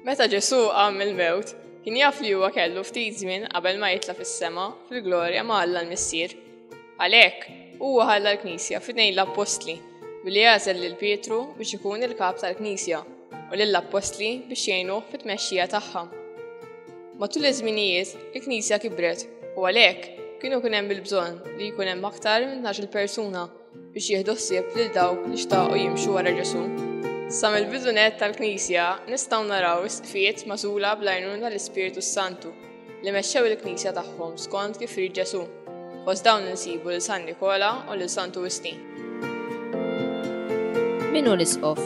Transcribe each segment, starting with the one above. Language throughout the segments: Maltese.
Meta Ġesu qam il-mewt, kien jaf li huwa kellu ftit żmien qabel ma jitla fis-sema fil-glorja ma' Alla l-Missier. Għalhekk, huwa ħalla l-Knisja fidejn l-Appostli billi għażel lil Pietru biex ikun il-kap tal-Knisja u lill-appostli biex jgħinuh fit-tmexxija tagħha. Matul iż-żminijiet, il-Knisja kibret u għalhekk kienu kien hemm il-bżonn li jkun hemm aktar minn il persuna biex jieħdu ħsieb lil dawk li xtaqu jimxu wara Ġesu. Sa mill-bidunet tal-Knisja nistgħu naraw is-sfiet magħżula bl-għajnuna l-Ispirtu Santu li mexxew il-knisja tagħhom skont kif rid Ġesù. Fost dawn insibu lil San Nikola u lil Santu Wistin. Min hu l-isqof?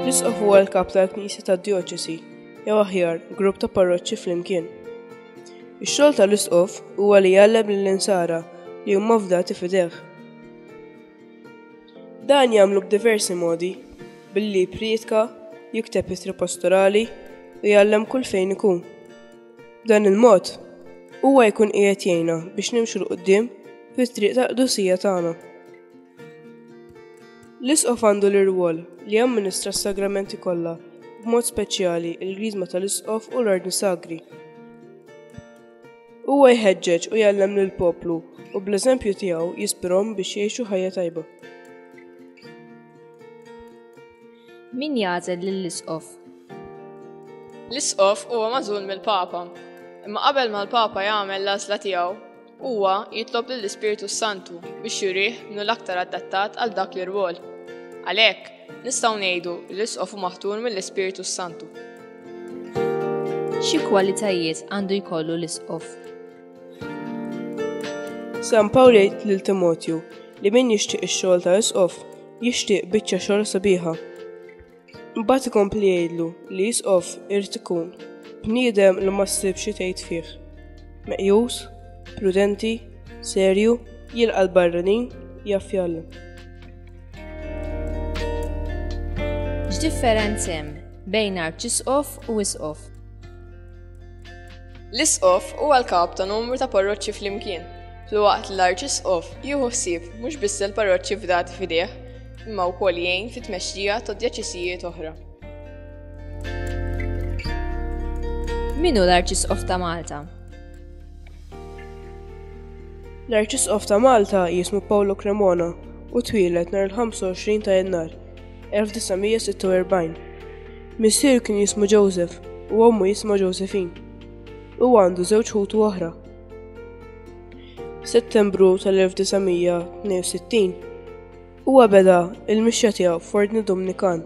L-isqof huwa l-kap tal-knisja tad-djoċesi, jew aħjar, grupp ta' parroċċi flimkien. Ix-xogħol tal-isqof huwa li jgħallem lill-insara li huma fdati fideh. Dan jagħmlu b'diversi modi, billi jipprietka, jikteb ittri pastorali u jgħallem kull fejn ikun. B'dan il-mod, huwa jkun qiegħed jgħinna biex nimxu l qudiem fit-triq tal-qdusija tagħna. L-isqof għandu l-irwol li jamministra s-sagramenti kollha, b'mod speċjali l-griżma tal-isqof u l-ordni sagri. Huwa jħeġġeġ u jgħallem lil poplu u bl-eżempju tiegħu jispirhom biex jgħixu ħajja tajba. Min jagħżel lill-isqof? L-isqof huwa magħżul mill-Papa. Imma qabel ma l-Papa jagħmel l-għażla tiegħu, huwa jitlob lill-Ispirtu Santu biex jurih minnu l-aktar adattat għal dak l-irwol. Għalhekk, nistgħu ngħidu li l-isqof maħtur mill-Ispirtu Santu. Xi kwalitajiet għandu jkollu l-isqof? San Pawl jgħid lil Timotju li min jixtieq ix-xogħol ta' isqof jixtieq biċċa xogħol sabiħa. Mbagħad ikompli jgħidlu li isqof irid ikun bniedem li ma ssib xi tgħid fih. Meqjus, prudenti, serju, jilqa' l-barranin, jaffjalla. X'differenz hemm bejn arċisqof u isqof? L-isqof huwa l-kap ta' numru ta' parroċċi flimkien, fl-waqt li l-arċisqof jieħu ħsieb mhux biss il-parroċċi fdat f'idejh, imma wkoll jgħin fit-tmexxija ta' djaċisijiet oħra. Minu l-arċisqof ta' Malta? L-Arċisqof ta' Malta jismu Paolo Cremona u twieled nhar il-25 ta' Jannar 1946. Missieru kien jismu Joseph u ommu jisma Josephine. U għandu żewġ ħutu oħra. Settembru tal-1962 huwa beda il-mixja tiegħu f'Ordni Dominikan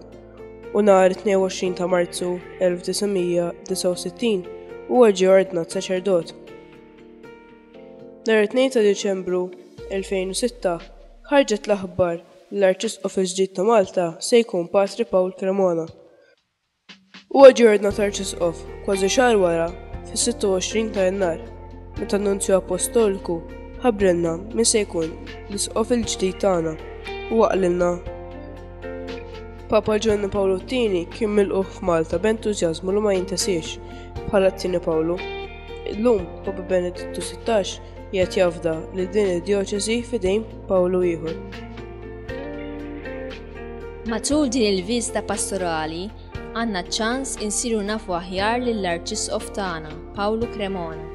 u nhar 22 ta' Marzu 1969 huwa ġie ordnat saċerdot. Nhar 2 ta' Diċembru 2006 ħarġet l-aħbar li l-Arċisqof il-ġdid ta' Malta se jkun Patri Pawl Cremona. Huwa ġie ordnat Arċisqof kważi xahar wara fis-26 ta' Jannar meta n-Nunzju Appostoliku ħabbrilna min se jkun l-Isqof il-ġdid tagħna u qalilna Papa Ġonni Pawlu t-tieni kien milquh f'Malta b'entużjażmu li ma jintasiex bħala t-tieni Pawlu. Illum Papa Benedittu 16 jgħid jafda li din id-djoċesi fidejn Pawlu ieħor. Matul din il-viżta pastorali, għandna ċans insiru nafu aħjar lill-Arċisqof tagħna, Pawlu Cremona.